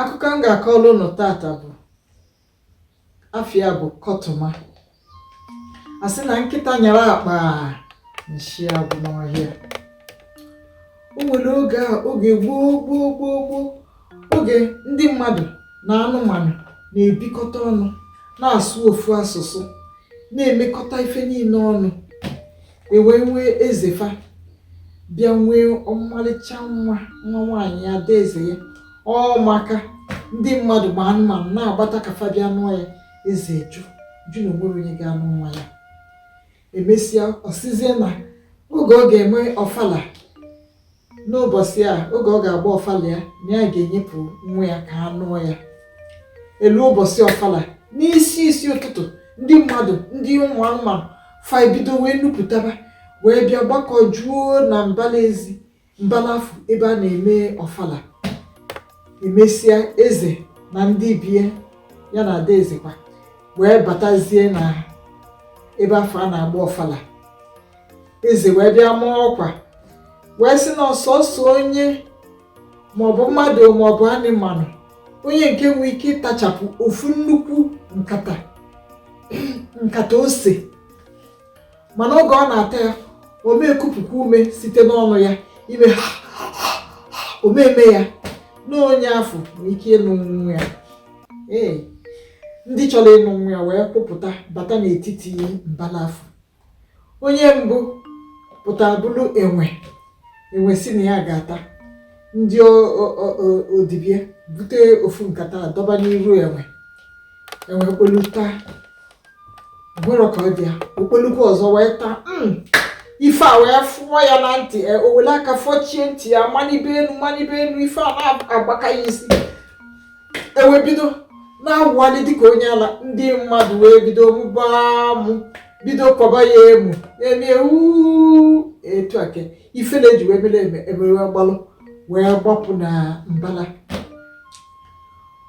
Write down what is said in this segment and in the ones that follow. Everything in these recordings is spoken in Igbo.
akụkọ m ga-akọrọ ụnụ tata bụ afa ya bụ kọtụma a sị na nkịta nyara akpa nshi agwụ n'ọhịa o nwere oge a oge gboo gboo gboo gboo oge ndị mmadụ na anụmanụ na-ebikọta ọnụ na-asụ ofu asụsụ na-emekọta ife niile ọnụ e wee nwee eze fa bịa nwee ọmalịcha nwa nwa nwaanyị ya ada eze ya ọ maka ndị mmadụ ma anụmanụ na-agbata ka fa bịa nụọ ya eze jụ jụ na o nwerọ onye ga-anụ nwa ya emesịa ọ sịzie na oge ọ ga-eme ọfala n'ụbọchị a oge ọ ga-agba ọfala ya na ya ga-enyepụ nwa ya ka a nụọ ya e lue ụbọchị ọfala n'isi isi ụtụtụ ndị mmadụ ndị ụmụ anụmanụ fa ebido wee nupụtaba wee bịa gbakọ juo na mbala ezi mbala afụ ebe a na-eme ọfala emesịa eze na ndị be ya na ada ezekwa wee batazie na ebe afụ a na-agba ọfala eze wee bịa maa ọkwa wee sị na ọ sọsọ onye maọbụ mmadụ maọbụ anịmanụ onye nke nwee ike ịtachapụ ofu nnukwu nkata nkata ose mana oge ọ na-ata ya ọ ma ekupụkwa ume site n'ọnụ ya ime ha ọ ma eme ya na onye afụ nwee ike ịnụ nwa ya ee ndị chọrọ ịnụ nwa ya wee kwụpụta bata n'etiti mbala afụ onye mbụ pụtara bụrụ enwe enwe sị na ya ga-ata ndị odibie bute ofu nkata dọba n'iru enwe enwe kpolu taa o nwerọ ka ọ dị ya o kpolukwu ọzọ wee taa hmm, ife a wee fụọ ya na ntị e, o welu aka fọchie ntị ya manibe enu manibe enu ife a na-agbaka ya isi enwe bido na-awụgharị dịka onye ala ndị mmadụ wee bido mụba amụ bido kwaba ya emu emie uu etu a ka ifele ji wee mee enwe enwe wee gbalụ wee gbapụ na mbala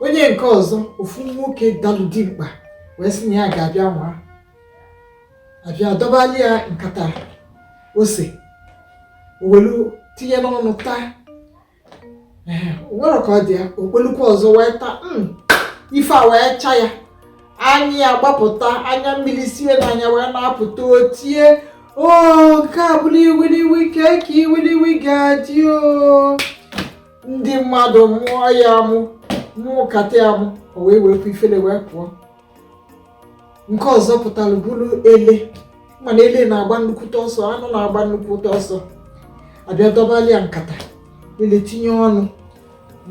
onye nke ọzọ ofu nwoke dalụ dimkpa wee sị na ya ga-abịa nwaa a bịa dọbalụ ya nkata ose o welu tinye n'ọnụ taa nwerọ ka ọ dị ya o kpolukwu ọzọ wee taa hmm, ife a wee cha ya anya ya agbapụta anya mmiri si ya na anya wee na-apụta o tie o nke a bụrụ iwiliwi kee ka iwiliwi ga-adị o ndị mmadụ mụọ ya amụ mụkata ya amụ o wee welu ifele wee pụọ nke ọzọ pụtalụ bụrụ ele mana ele na-agba nnukwute ọsọ anụ na-agba nnukwute ọsọ a bịa dọbali ya nkata ele tinye ọnụ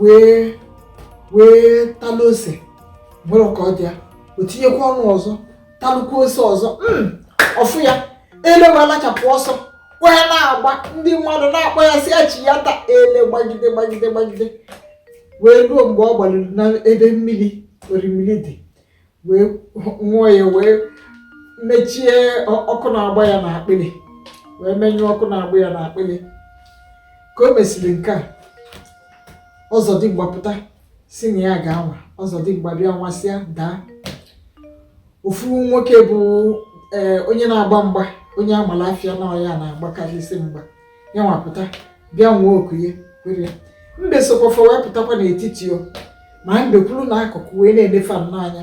wee wee talụ ose nwere ka ọ dị ya o tinyekwa ọnụ ọzọ talụkwu ose ọzọ hmm, ọ fụ ya ele wee lachapụ ọsọ wee na-agba ndị mmadụ na-akpọ ya sị ya chighata ele gbagide gbagide gbagide wee ruo mgbe ọ gbaluru na ebe mmiri orimiri dị wee ṅụọ ya wee mechie ọkụ na-agba ya na akpịrị wee menyụọ ọkụ na-agba ya na akpịrị ka o mesịrị nke a ọzọdimgba pụta sị na ya ga-anwa ọzọdimgba bịa nwasịa daa ofu nwoke bụ ee eh, onye na-agba mgba onye a malụ afa ya na ọ ya na-agbakarịsị mgba ya nwa pụta bịa nwee oku ya kwere mbe sokwa fa wee pụtakwa n'etiti o ma mbe kwụrụ na akụkụ wee na-ene fa nnọọ anya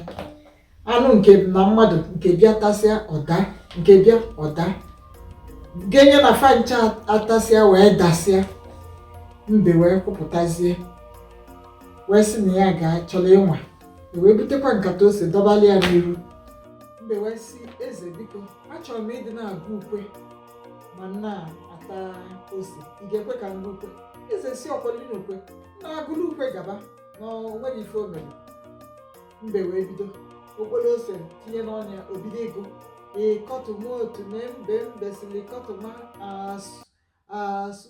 anụ nke na mmadụ nke bịa tasịa ọ daa nke bịa ọ daa genye na fa ncha atasịa wee dasịa mbe wee kwụpụtazie wee sị na ya ga-achọrọ ịnwa e wee butekwa nkata ose dọbali ya n'iru mbe wee sị eze biko achọrọ m ịdị na-agụ ukwe ma m na-ata ose ị ga-ekwe ka m gụọ ukwe eze sị ọkweli na ukwe na-agụlụ ukwe gaba na o nwerọ ife o mere mbe wee bido o kporo ose tinye n'ọnụ ya o bido ịgụ ịkọtụma otu mee mbe mbe sili ịkọtụma asụ asụ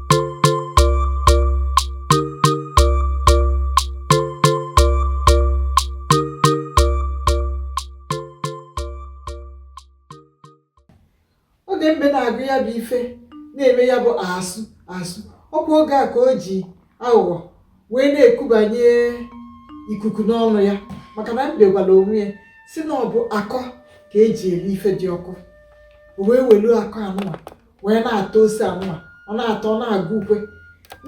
oge mbe na-agụ ya bụ ife na-eme ya bụ asụ asụ ọ kwa oge a ka o ji aghụghọ wee na-ekubanye ikuku n'ọnụ ya maka na mbe gwara onwe ya sị na ọ bụ akọ ka e ji eri ife dị ọkụ o wee welu akọ anụma wee na-ata ose anụma ọ na-ata ọ na-agụ ukwe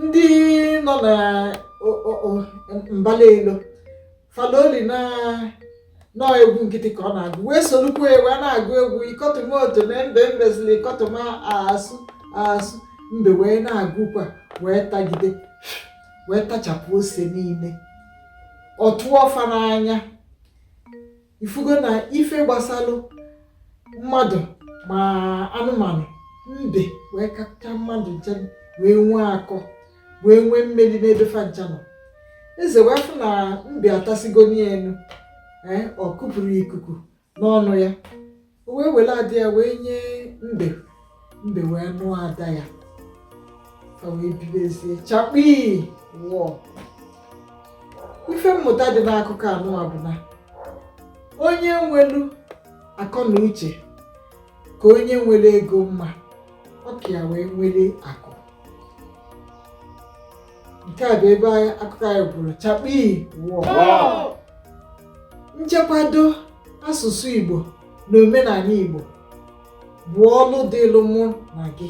ndị nọ na mbala elu fa loli na nnọọ egwu nkịtị ka ọ na-agụ wee solukwu ya wee na-agụ egwu ikọtụma otu na mbe mbe sili ikọtụma asụ asụ mbe wee na-agụkwa wee tagide wee tachapụ ose niile ọ tụọ fa n'anya ị fụgo na ife gbasalụ mmadụ ma anụmanụ mbe wee kacha mmadụ ncha wee nwee akọ wee nwee mmeri n'ebe fa ncha nọ eze wee fụ na mbe atasịgo ya enwerọ o kupụrụ ikuku n'ọnụ ya o wee were ada ya wee nye mbe mbe wee nụọ ada ya fa wee bibezie chakpii wọọ ife mmụta dị n'akụkọ anụwa bụ na onye nwelu akọ na uche ka onye nwere ego mma ọ ka ya wee nwere akụ nke a bụ ebe akụkọ anyị kwụrụ chakpii wọọ nchekwado asụsụ Igbo na omenala Igbo bụ ọlụ dịlụ mụ na gị